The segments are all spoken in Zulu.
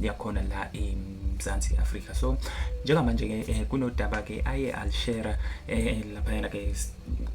yakhona la eMzansi Afrika so njengamanje ke eh, kunodaba ke aye alishera eh, laphayana ke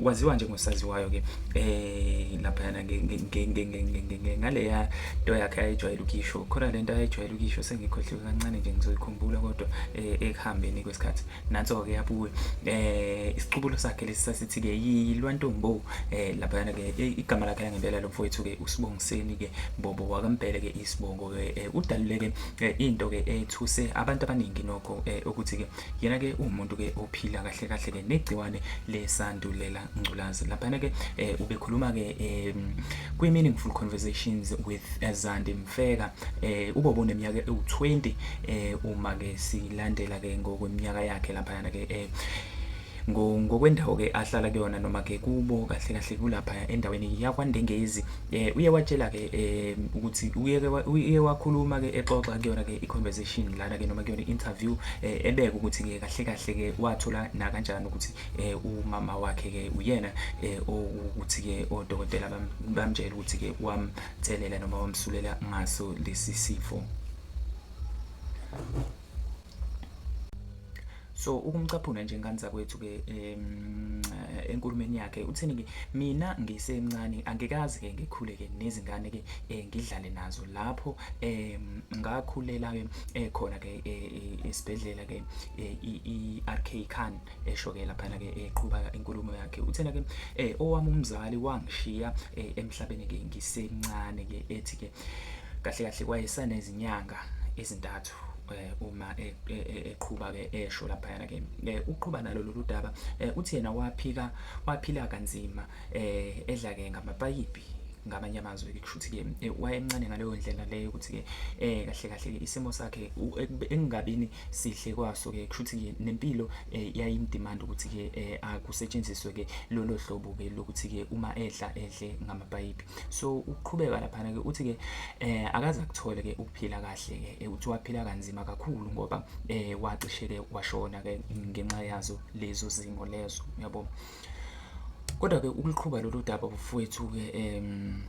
waziwa njengosaziwayo ke eh laphayana ngaleya nto yakhe ayijwayele ukisho khona lento ayijwayele ukisho sengikhohliwe kancane nje ngizoyikhumbula kodwa eh, ekuhambeni kwesikhathi nanso ke yabuye eh isiqubulo sakhe lesi sasithi ke yilwantombo eh laphayana ke igama lakhe langempela lomfowethu ke usibongiseni ke bobo wakampele ke isibongo ke udaluleke into ke ethuse abantu abaningi nokho ukuthi ke yena ke umuntu ke ophila kahle kahle ke negciwane lesandulela ngculazi laphana ke ubekhuluma ke kwi meaningful conversations with Zandi Mfeka ubobo neminyaka ewu20 uma ke silandela ke ngokweminyaka yakhe laphana ke ngokwendawo ke ahlala kuyona noma ke kubo kahle kahle kulapha endaweni yakwandengezi eh uye watshela ke eh ukuthi uye uye wakhuluma ke exoxa kuyona ke i-conversation lana ke noma kuyona i-interview eh, ebeka ukuthi ke kahle kahle ke wathola na kanjani ukuthi eh umama wakhe ke uyena eh ukuthi ke odokotela bamtshela ukuthi ke wamtselela noma wamsulela ngaso lesi sifo so ukumcaphuna nje ngani zakwethu ke um, enkulumeni yakhe uthini ke mina ngisemncane angikazi ke ngikhule ke nezingane ke eh, ngidlale nazo lapho um, ngakhulela ke eh, khona ke eh, esibhedlela ke i-RK Khan esho ke lapha ke eqhuba inkulumo yakhe uthena ke owami umzali wangishiya emhlabeni ke ngisemncane ke ethi ke kahle kahle kwayesana izinyanga ezintathu eh, uma e, e, e, eqhuba ke esho laphayana ke eh, uqhuba nalo lolu daba eh, uthi yena waphika waphila kanzima eh, edla ke ngamapayipi ngamanye amazwi ke kushuthi ke eh, wayemncane ngaleyo ndlela leyo ukuthi ke eh kahle kahle ke isimo sakhe engingabini sihle kwaso ke kushuthi ke nempilo eh, yayimdemand ukuthi ke eh, akusetshenziswe ke lolo hlobo ke lokuthi ke uma edla edle ngamapayipi so uqhubeka laphana ke uthi ke eh akaza kuthole ke ukuphila kahle ke eh, uthi waphila kanzima kakhulu ngoba eh wacishe ke washona ke ngenxa yazo lezo zimo lezo yabo kodwa ke ukuliqhuba lolu daba bufowethu ke em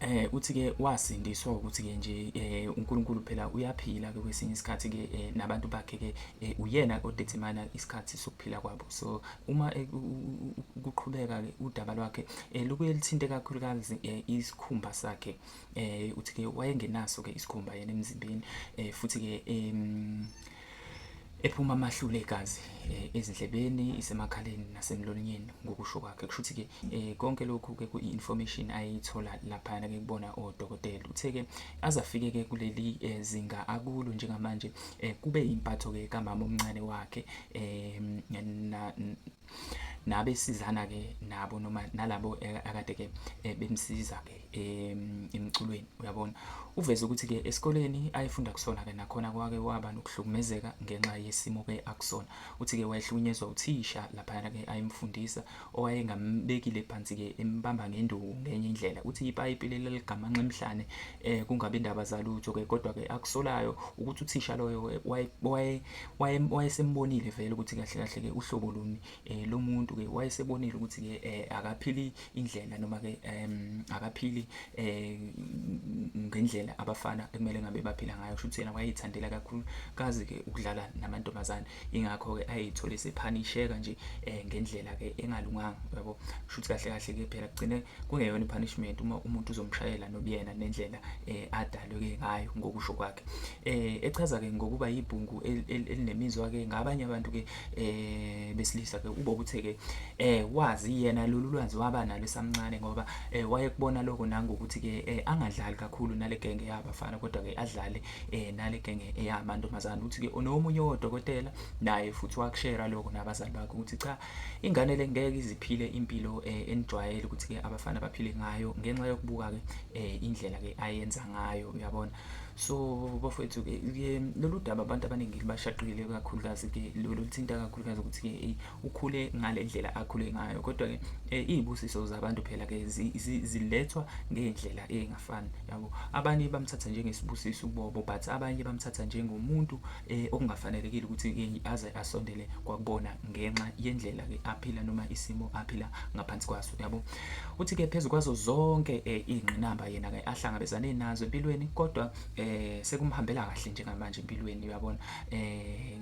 eh uthi ke wasindiswa ukuthi ke nje eh uNkulunkulu phela uyaphila ke kwesinye isikhathi ke eh, nabantu bakhe ke eh, uyena odetermine isikhathi sokuphila kwabo so uma eh, kuqhubeka ke udaba lwakhe eh, lubuye lithinte kakhulukazi eh, isikhumba sakhe eh, uthi ke wayengenaso ke isikhumba yena emzimbeni eh, futhi ke em ephuma amahlule egazi eh, ezindlebeni isemakhaleni nasemlonyeni ngokusho kwakhe kusho ukuthi ke eh, konke lokhu ke kuinformation ayithola lapha ke kubona odokotela uthe ke azafike ke kuleli eh, zinga akulo njengamanje kube impatho ke kamama omncane wakhe nabe sizana ke nabo noma nalabo eh, akade ke eh, bemsiza ke emculweni uyabona uveze ukuthi ke esikoleni ayefunda kusona ke nakhona kwake waba nokuhlukumezeka ngenxa yesimo ke akusona uthi ke wayehlukunyezwa uthisha lapha ke ayemfundisa owayengambekile phansi ke embamba ngenduku ngenye indlela uthi ipayipi leligamanxa emhlane eh kungabe indaba zalutho ke kodwa ke akusolayo ukuthi uthisha loyo waye wayesembonile vele ukuthi kahle kahle ke uhlobo luni eh, lomuntu ke wayesebonile ukuthi ke eh, akaphili indlela noma ke akaphili eh, ngendlela abafana ekumele ngabe baphila ngayo kusho ukuthi yena wayeyithandela kakhulu kazi ke ukudlala namantombazane ingakho ke ayeyithole sephanisheka nje ngendlela ke engalunganga yabo kusho ukuthi kahle kahle ke phela kugcine kungeyona ipunishment uma umuntu uzomshayela nobuyena nendlela adalwe ke ngayo ngokusho kwakhe eh echaza ke ngokuba yibhungu elinemizwa ke ngabanye abantu ke eh besilisa ke ubo kuthe ke eh wazi yena lolu lwazi waba nalo esamncane ngoba eh wayekubona lokho nangokuthi ke eh, angadlali kakhulu nale genge yabafana kodwa ke adlale eh nale genge eyamantombazana uthi ke unomunye odokotela naye futhi wakushera lokho nabazali bakhe ukuthi cha ingane lengeke iziphile impilo eh, enijwayele ukuthi ke abafana baphile ngayo ngenxa yokubuka ke eh, indlela ke ayenza ngayo uyabona so bafowethu ke lolu daba abantu abaningi lubashaqile kakhulukazi ke loluthinta kakhulukazi ukuthi ke eyi ukhule ngale ndlela akhule ngayo kodwa ke eh, iy'busiso zabantu phela ke zilethwa ngey'ndlela ey'ngafani yabo abanye bamthatha njengesibusiso ubobo but abanye bamthatha njengomuntu um okungafanelekile ukuthi ke aze asondele kwakubona ngenxa yendlela ke aphila noma isimo aphila ngaphansi kwaso yabo uthi ke phezu kwazo zonke eh, iy'ngqinamba yena ke ahlangabezane nazo empilweni kodwa eh, sekumhambela kahle njengamanje empilweni uyabona eh,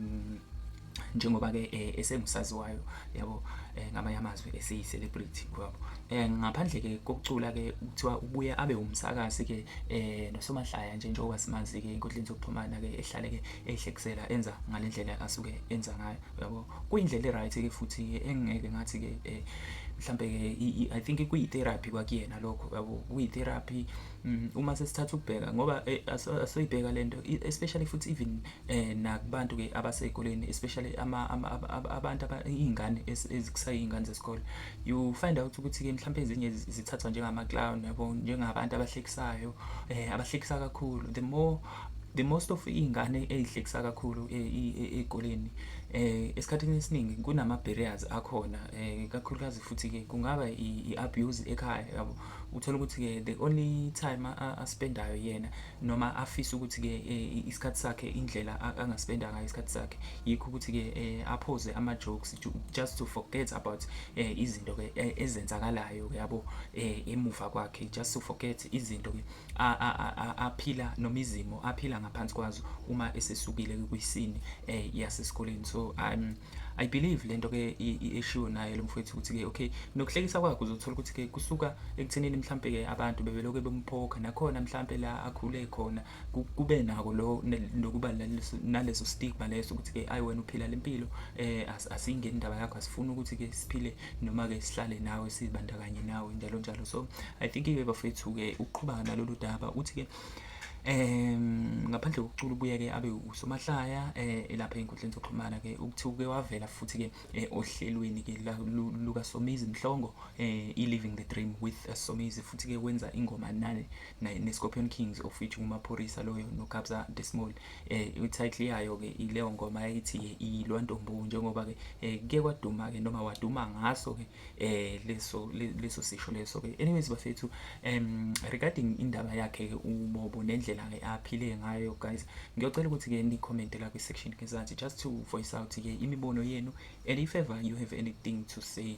njengoba ke eh, esengusaziwayo yabo eh, ngamanye amazwi esiyi celebrity yabo eh, ngaphandle ke kokucula ke kuthiwa ubuye abe umsakazi ke eh, nosomahlaya nje njengoba simazi ke inkundleni zokuxhumana ke ehlale ke ehlekisela enza ngalendlela asuke enza ngayo yabo kuyindlela e-right ke futhi ke engeke ngathi ke eh, mhlambe ke i think kuyi-therapy kwakuyena lokho yabo kuyi-therapy mm, uma sesithatha ukubheka ngoba eh, asoyibheka le nto especially futhi even eh, nakubantu ke abasezikoleni especially abantu iy'ngane ezikusayiy'ngane zesikole you find out ukuthi ke mhlawumbe ezinye zithathwa njengama-clown yabo njengabantu abahlekisayo um abahlekisa kakhulu the more the most of iy'ngane ey'hlekisa kakhulu e, e, e, ey'koleni um esikhathini esiningi kunama-barriers akhona um kakhulukazi futhi-ke kungaba i-abuse ekhaya yabo uthole ukuthi-ke the only time aspendayo yena noma afise ukuthi-ke isikhathi sakhe indlela angaspenda ngayo isikhathi sakhe yikho ukuthi-ke um aphoze ama-jokes just to forget about um izinto-ke ezenzakalayo yabo um emuva kwakhe just to forget izinto-ke aphila noma izimo aphila ngaphansi kwazo uma esesukile kwisini eh yasesikoleni so um i believe lento ke eshiwo naye lo mfowethu ukuthi ke okay nokuhlekisa kwakhe uzothola ukuthi ke kusuka ekuthenini mhlambe ke abantu bebeloke bemphoka nakhona mhlambe la akhule khona kube nako lo nokuba naleso stigma leso ukuthi ke ayi wena uphila lempilo eh asingeni indaba yakho asifuni ukuthi ke siphile noma-ke sihlale nawe sizibandakanye nawe njalo njalo so i think iwe bafethu-ke ukuqhubaka nalolu daba uthi-ke um ngaphandle kokucula ubuye-ke abe usomahlaya um elapha ey'nkundleni zokuxhumana-ke ukuthi uke wavela futhi-ke eh, ohlelweni-ke lukasomizi mhlongo um i-living the dream with eh, somizi futhi-ke wenza ingoma nane ne-scorpion kings of which ngumaphorisa loyo nokabza desmall eh i-title yayo ke ileyo ngoma ethi ke ilwa ntombu njengoba ke eh, kuye kwaduma ke noma waduma ngaso ke eh leso leso sisho leso ke anyways bafethu um regarding indaba yakhe ke ubobo nendlela ke aphile ngayo guys ngiyocela ukuthi ke ni comment la kwi section ke zathi just to voice out ke imibono yenu and if ever you have anything to say